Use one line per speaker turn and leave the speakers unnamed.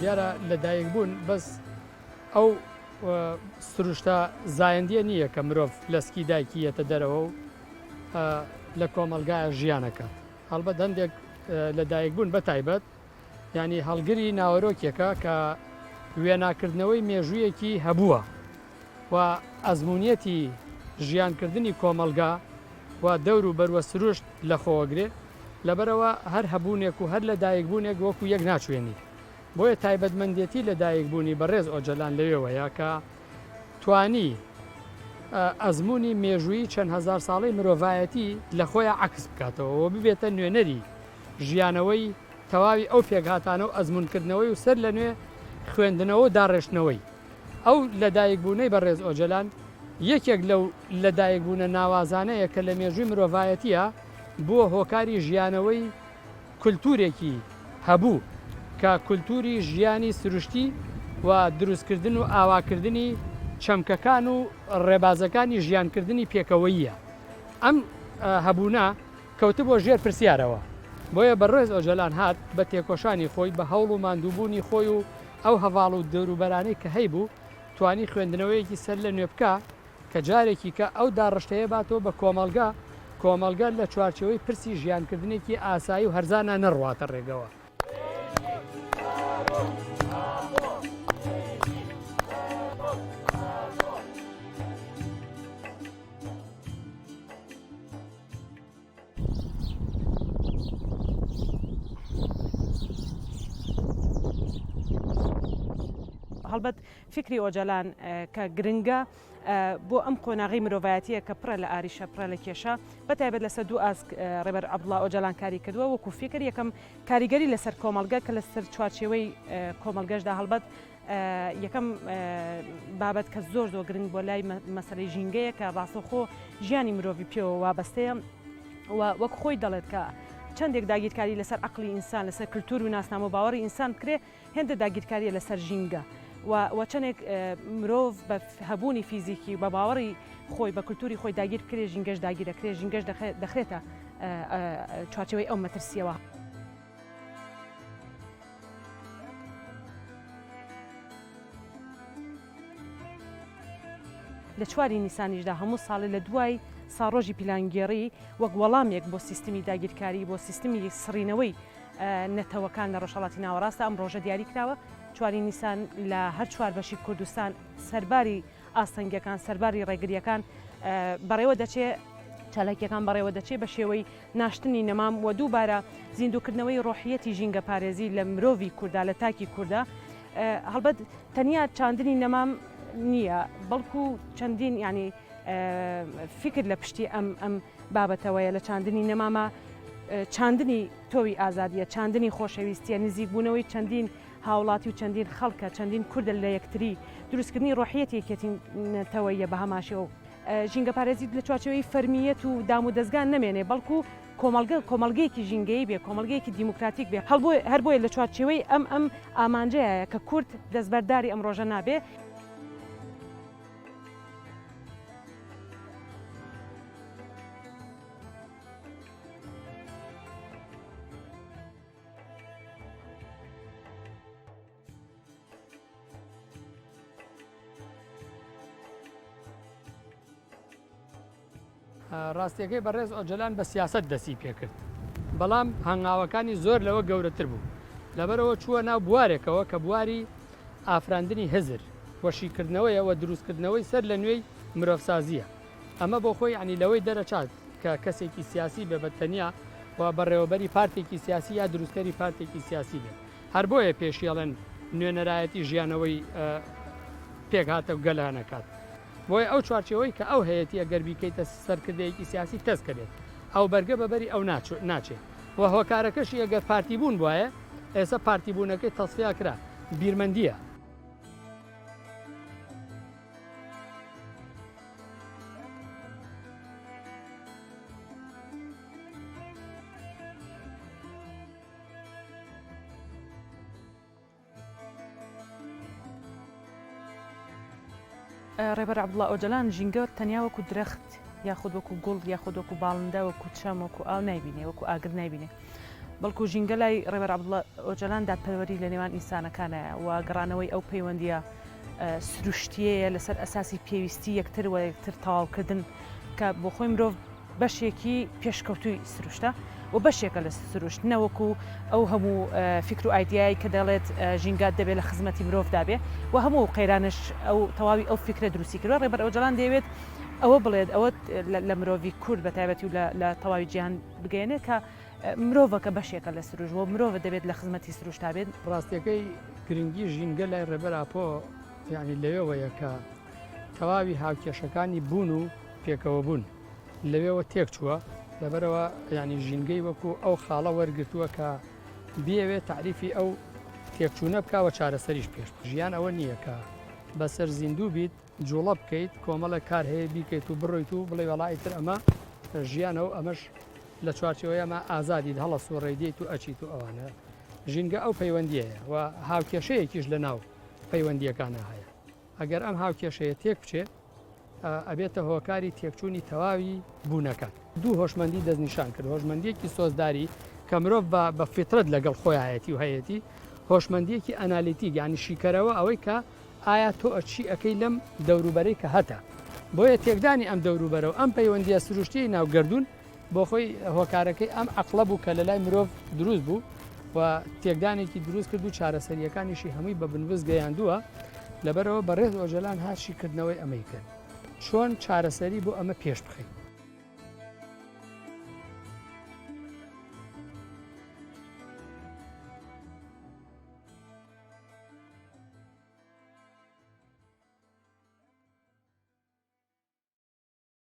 دیارە لە دایک بوون بەس ئەو سروشتە زایەندیە نییە کە مرۆڤ لەسکی دایکیەتە دەرەوە و لە کۆمەلگایە ژیانەکە هەڵبەت هەندێک لە دایک بوون بە تایبەت یانی هەڵگری ناوەرۆکێکە کە وێناکردنەوەی مێژوویەکی هەبووە و ئەزمونیەتی ژیانکردنی کۆمەلگا و دەور و بەروە سروشت لە خۆوەگرێ لەبەرەوە هەر هەبوونێک و هەر لە دایکبوونێک وەکو یەک ناچوێنی بۆیە تایبەتمەندێتی لە دایکبوونی بەڕێز ئۆجەلان لەوێوەیە کە توانی ئەزمموی مێژووی چەند هزار ساڵی مرۆڤایەتی لە خۆیان عکس بکاتەوە ببێتە نوێنەری ژیانەوەی تەواوی ئەو پێکهاتانە و ئەزموونکردنەوەی و سەر لەنوێ خوێندنەوە و داڕێشتنەوەی ئەو لەدایکبوونەی بەڕێز ئۆجەلان، یەکێک لەو لەدایکبوونە ناوازانەیە کە لە مێژووی مرۆڤایەتییە بووە هۆکاری ژیانەوەی کولتوورێکی هەبوو کە کولتووری ژیانی سروشتی و دروستکردن و ئاواکردنی چەمکەکان و ڕێبازەکانی ژیانکردنی پێکەوەییە. ئەم هەبوونە کەوتبووە ژێر پرسیارەوە. بۆیە بەڕێز ئۆجەلان هات بە تێکۆشانی خۆی، بە هەوڵ و ماندووبوونی خۆی و ئەو هەڤاڵ و دەوروبەرانەی کە هەیبوو، توانی خوێندنەوەیەکی سەر لە نوێ بکا کە جارێکی کە ئەو داڕشتەیە باتەوە بە کۆمەڵگە، کۆمەڵگە لە چوارچێوەی پرسی ژیانکردنێکی ئاسایی و هەرزانا نەڕواتە ڕێگەوە.
هەڵبەت فکری ئۆجالان کە گرنگە بۆ ئەم قۆناغی مرۆڤایەتیە کە پڕە لە ئاریشە پڕە لە کێشە بەتایبەت لەسە دوو ئاسک ڕێبەر عبدڵا ئۆجالان کاری کردووە وەکو فکر یەکەم کاریگەری لەسەر کۆمەلگە کە لەسەر چوارچێوەی کۆمەلگەشدا هەڵبەت یەکەم بابەت کە زۆر زۆر گرنگ بۆ لای مەسەری ژینگەیە کە ڕاستەخۆ ژیانی مرۆڤی پێوە وابەستەیە وەک خۆی دەڵێت کە چندێک داگیرکاری لەسەر عقلی ئینسان لەسەر کللتور و ناسنامە و باوەڕی ئینسان بکرێ هێندە داگیرکاریە لەسەر ژینگە و چەندێک مرۆڤ بە هەبوونی فیزیکی و بە باوەڕی خۆی بە کللتوری خۆی داگیر کرێ ژینگەش داگیرەکرێ ژینگەش دەخرێتە چوارچەوەی ئەو مەترسیەوە. لە چواری نیسانیشدا هەموو ساڵی لە دوای ساڕۆژی پیلانگێڕی وەک وەڵامێک بۆ سیستمی داگیرکاری بۆ سیستمی سڕینەوەی نەتەوەکان لە ڕۆژهڵاتی ناوەڕاستە ئەم ڕۆژە دیاری کراوە چواری نیسان لە هەر چوار بەشی کوردستان سەرباری ئاستەنگەکان سەرباری ڕێگریەکان بەڕێوە دەچێ چالاکیەکان بەڕێوە دەچێ بە شێوەی ناشتنی نەمام و دووبارە زیندووکردنەوەی ڕۆحییەتی ژینگەپارێزی لە مرۆڤی کورددا، لە تاکی کورددا. هەڵبەت تەنیا چاندنی نەمام نییە، بەڵکو چەندین یانی فیکر لە پشتی ئەم ئەم بابەتەوەیە لە چاندنی نەمامە چاندنی تۆوی ئازادیە، چاندنی خۆشەویستیە، نزیکبوونەوەی چەندین هاوڵاتی و چەندین خەڵکە، چەندین کوردە لە یەکتری، دروستکردنی ڕۆحیەتی یەکێتی نەتەوەیە بە هەماشێوە. ژینگەپارێزی لە چوارچێوەی فەرمییەت و دامودەزگا نەمێنێ، بەڵکو کۆمەڵگە کۆمەڵگەیەکی ژینگەیی بێ، کۆمەڵگەیەکی دیموکراتیک بێ. هەر بۆیە لە چوارچێوەی ئەم ئەم ئامانجەیایە کە کورد دەستبەرداری ئەم ڕۆژە نابێ.
ڕاستیەکەی بەڕێز ئۆجەلان بە سیاست دەسی پێکرد بەڵام هەنگاوەکانی زۆر لەوە گەورەتر بوو لەبەرەوە چووە ناو بوارێکەوە کە بواری ئافراندنی هزر وەشیکردنەوەیە وە دروستکردنەوەی سەر لە نوێی مرۆڤسازیە ئەمە بۆ خۆی عنی لەوەی دەرەچات کە کەسێکی سیاسی بێ بە تەنیا و بەڕێوەبەری پارتێکی سیاسی یا دروستکەری پارتێکی سیاسی بێت هەر بۆیە پێشی ئەڵێن نوێنەرایەتی ژیانەوەی پێکهاتە گەلانەکات. بۆیە ئەو چوارچێوەی کە ئەو هەیەتی ئەگەر بیکەیتە سەرکردەیەکی سیاسی تەسکە بێت ئەو بەرگە بە بەری ئەو ناچێ و هۆکارەکەشی ئەگەر پارتی بوون بواە ئێستا پارتی بوونەکەی تەسفیا کرا بیرمەندیە.
ڕێبەر عەبدوڵا ئۆجەلان ژینگە تەنیا وەکو درەخت یاخود وەکو گوڵ یاخود وەکو باڵندە وەکو چەم وەکو ئاو نایبینێ وەکو ئاگر نایبینێ بەڵکو ژینگە لای ڕێبەر عەبدوڵا ئۆجەلان دادپەروەری لە نێوان ئینسانەکانە و گەڕانەوەی ئەو پەیوەندیە سروشتیەیە لەسەر ئەساسی پێویستی یەکتر و یەکتر تەواوکردن کە بۆ خۆی مرۆڤ بەشێکی پێشکەوتووی سروشتە و بەشێکە لە سروشت نەوەکو ئەو هەموو فکر و ئایدیایی کە دەڵێت ژینگات دەبێت لە خزمەتی مرۆڤدا بێ و هەموو قەیرانش ئەو تەواوی ئەو فکرە دروستی کردوە ڕێبەر ئەوجەڵان دەیەوێت ئەوە بڵێت ئەوە لە مرۆڤی کورد بە تایبەتی و لە تەواوی جیهان بگەێنێت کە مرۆڤەکە بەشێکە لە سروش و مرۆڤ دەبێت لە خزمەتی سروشتا بێت ڕاستەکەی
گرنگی ژینگە لای ڕێبەر ئاپۆ یعنی لەوێوەیە کە تەواوی هاوکێشەکانی بوون و پێکەوەبوون لەوێوە تێکچووە لەبەرەوە ینی ژینگەی وەکو ئەو خاڵە وەرگتووە کە بێوێ تعریفی ئەو تێکچوونە بکەوە چارەسەریش پێش ژیان ئەوە نییە کە بەسەر زیندوو بیت جوڵە بکەیت کۆمەڵە کار هەیە بیکەیت و بڕیت و بڵێ وڵی تر ئەمە ژیانە و ئەمەش لە چوارچەوەیەمە ئازادیت هەڵە سوڕێ دیت و ئەچیت و ئەوانە ژینگە ئەو پەیوەندیە و هاوکێشەیەکیش لە ناو پەیوەندیەکانە هەیە ئەگەر ئەم هاوکێشەیە تێک بچێت ئەبێتە هۆکاری تێکچوونی تەواوی بوونەکە. دوو هۆشمەندی دەستنیشان کرد، هۆشمەندییەکی سۆزداری کە مرۆڤ بە بە فیترەت لەگەڵ خۆیایەتی و هەیەتی، هۆشمەندییەکی ئەنالیتیک یانی شیکەرەوە ئەوەی کە ئایا تۆ چی ئەکەی لەم دەوروبەرەی کە هەتە. بۆیە تێکدانی ئەم دەوروبەرە و ئەم پەیوەندییە سروشتییەی ناو گەردوون، بۆخۆی هۆکارەکەی ئەم عەقڵە بوو کە لەلای مرۆڤ دروست بوو و تێکدانێکی دروست کرد و چارەسەرییەکانیشی هەمووی بە بنبست گەیاندووە لەبەرەوە بە ڕێز ئۆجەلان هاشی کردنەوەی ئەمەی کرد چۆن چارەسەری بۆ ئەمە پێش بخەین